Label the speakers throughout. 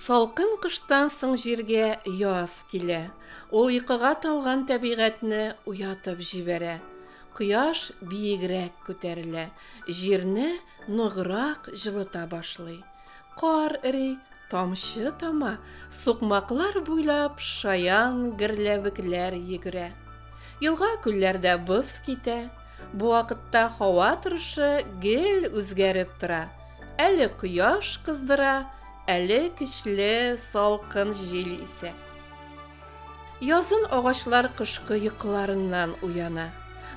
Speaker 1: Салкын кыштан соң җиргә яз килә. Ул йокыга талган тәбигатьне уятып җибәрә. Кояш биегрәк күтәрелә, җирне ныграк җылыта башлый. Кар эри, тамчы тама, сукмаклар буйлап шаян герләвекләр йөгерә. Елга-күлләрдә боз китә. Бу вакытта һава торышы гел үзгәреп тора. Әле кояш кыздыра, әле көчле салкын җил исә. Язын агачлар кышкы йокыларыннан уяна.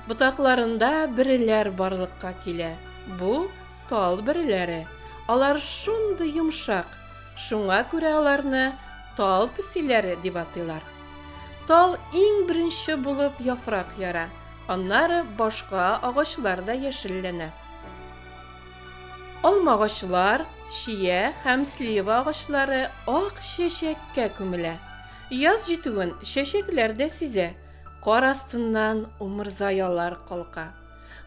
Speaker 1: Ботакларында бөреләр барлыкка килә. Бу Тал бөреләре. Алар шундый йомшак, шуңа күрә аларны тал песиләре дип атыйлар. Тал иң беренче булып яфрак яра, аннары башка агачлар да яшелләнә. Алмагачлар, чия һәм слива агачлары ак чәчәккә күмелә. Яз җитүен чәчәкләр дә сизә, кар астыннан умырзаялар калка.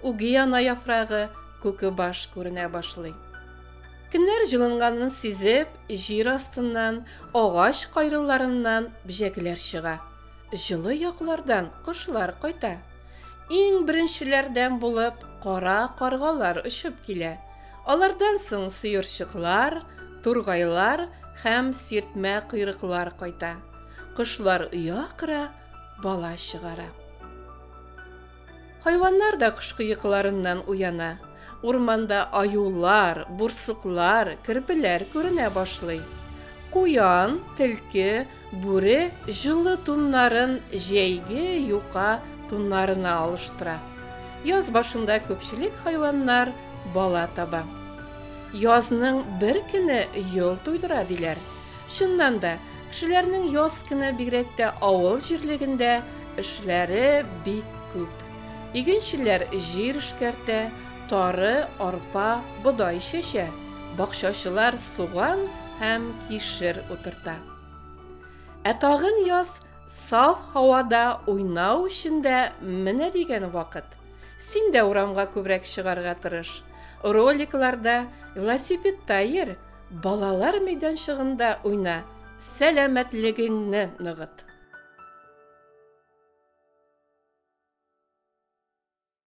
Speaker 1: Угиана яфрагы, күкебаш күренә башлый. Көннәр җылынганын сизеп, җир астыннан, агач кайрылларыннан бҗәкләр чыга. Җылы яклардан кошлар кайта. Иң беренчеләрдән булып кара каргалар очып килә. Алардан соң сыерчыклар, тургайлар һәм сиртмә койрыклар кайта. Кошлар оя кыра, бала чыгара. Хайваннар да кышкы йокыларыннан уяна. Урманда аюлар, бурсыклар, керпеләр күренә башлый. Куян, телке, бүре җылы туннарын җәйге юка туннарына алыштыра. Яз башында күпчелек хайваннар бала таба. Язның бер көне йол туйдыра диләр. Чыннан да, кешеләрнең яз көне бигрәк тә авыл җирлегендә эшләре бик күп. Игенчеләр җир эшкәртә, тары, арпа, бодай чәчә, бакчачылар суган һәм кишер утырта. Ә тагын яз саф һавада уйнау өчен дә менә дигән вакыт. Син дә урамга күбрәк чыгарга тырыш. Роликларда, велосипедта йөр, Балалар мәйданчыгында уйна, сәламәтлегеңне ныгыт.